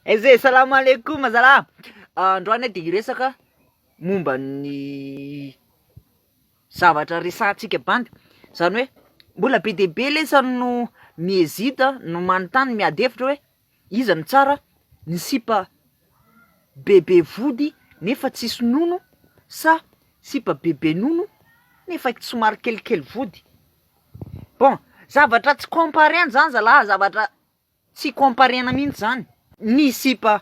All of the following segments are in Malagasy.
Ez e, salam aleikoum zala a! Androany de hiresaka momba ny zavatra resahantsika bandy, zany hoe mbola be dia be lesa no mi-hesite a, no manontany, no miady hevitra hoe iza no tsara, ny sipa bebe vody nefa tsisy nono sa sipa bebe nono nefa somary kelikely vody? Bon, zavatra tsy compare-ny zany zalaha, zavatra Tsy comparena mihitsy zany ny sipa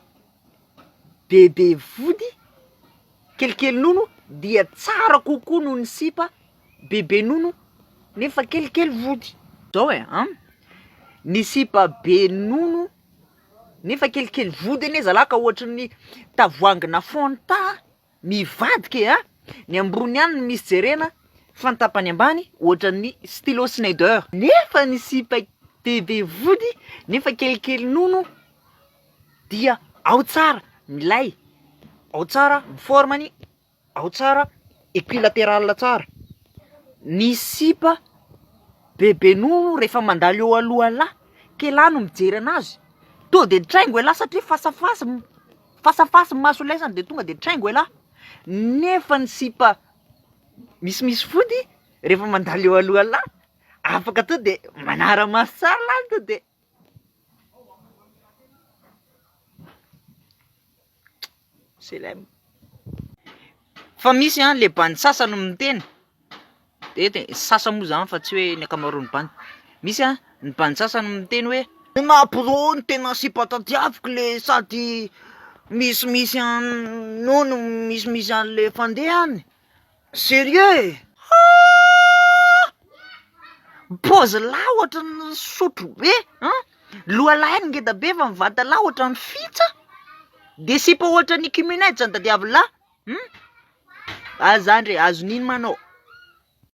bebe vody kelikely nono dia tsara kokoa noho ny sipa bebe nono nefa kelikely vody, zao e an, ny sipa be nono nefa kelikely vody anie zalahy ka ohatry ny tavoahangina fanta. Mivadika e a! Ny ambony ihany no misy jerena fa ny tapany ambany ohatran'ny stylo Snyder. Nefa ny sipa be be vody nefa kelikely nono dia ao tsara milay, ao tsara ny forme-ny, ao tsara equilateral tsara. Ny sipa be be nono rehefa mandalo eo aloha lahy k'elah no mijery anazy, to de traingo elah satria fasafasa. Face à face maso lay zany de tonga de traingo elah, nefa ny sipa misimisy fody refa mandalo eo alohalah afaka to de manara maso tsara lah to de celem. Fa misy an le bandy sasany miteny. Eny e, sasany moa izany fa tsy hoe ny ankamaroan'ny band. Misy an, ny band sasany miteny hoe. Ny maha pro ny tena sipa tadiaviko le sady misimisy an no no misimisy an'le fandehany. Serieux e! Haa! Pause lahy ohatran'ny sotro be an! Loha lahy ngeda be fa ny vata lahy ohatran'ny fitsa, de sipa ohatran'ny ikumuned zany tadiavy lahy. Humm! Aza zany re, azon'inona anao?